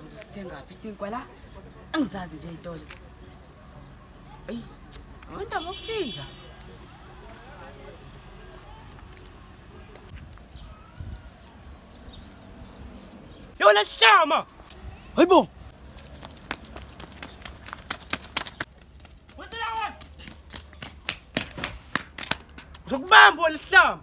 Sizosithengaphi isinkwa la? Angizazi nje itolo. Ayi, abantu abafika. Yona hlama. Hayibo. Zokubamba wena hlama.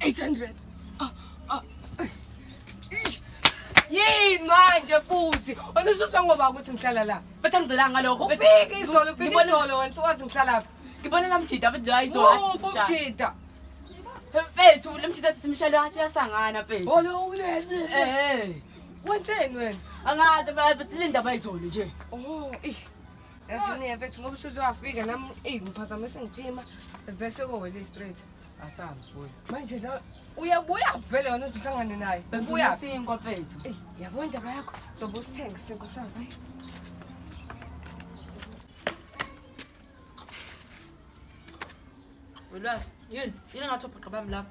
800 ah, ah. yini manje futhi wena ususa ngoba ukuthi ngihlala la bathi angizelanga ngalokho ufike izolo ufike Ngibona- izolo wena usuwazi ngihlala phi ngibona namjida bathi nje ayizona Wuphi umjida mfethu lemjida athi simshale ngathi uyasangana mfethu olo ulele eh wenzeni wena angazi bathi le ndaba ayizolo nje oh ih Yasinike mfethu ngoba usuze wafika nami eyi ngiphazamise ngijima bese kowele straight asambi boy. Manje la uyabuya kuvele wena uzohlangane naye. Ubuya sinkwa mfethu. Eyi yabo indaba yakho zobe usithenga sinkwa sakho. Welwazi yini yini ngathi ubhuqa bami lapho.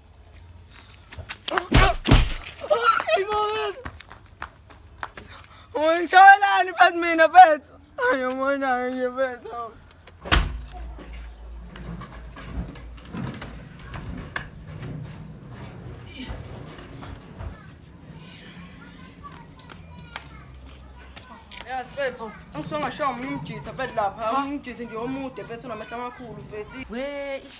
Ay, Mabel! Uy, sa wala ni Pat Mina, Pets! Ayaw mo na, ayaw niya, Pets. Oh. Yazi mfethu, angisongashawa omunye umjitha mfethu lapha, omunye umjitha nje omude mfethu unamehlo amakhulu mfethu. We, ish,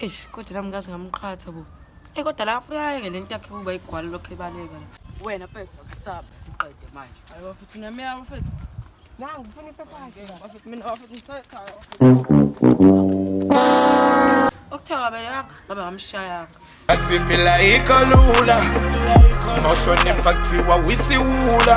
eish kodwa nami ngazi ngamqhatha bo eyi kodwa la afuna ayeke le nto yakhe kuba igwala lokho ebaleka la wena mfethu akusaba siqede manje hayi bafethu namiya bafethu nangu ufuna ipepakhe bafethu mina bafethu ngicela ekhaya okuthiwa kabelanga ngabe ngamshayanga asiphila ikho lula mawuhlonipha kuthiwa wisiwula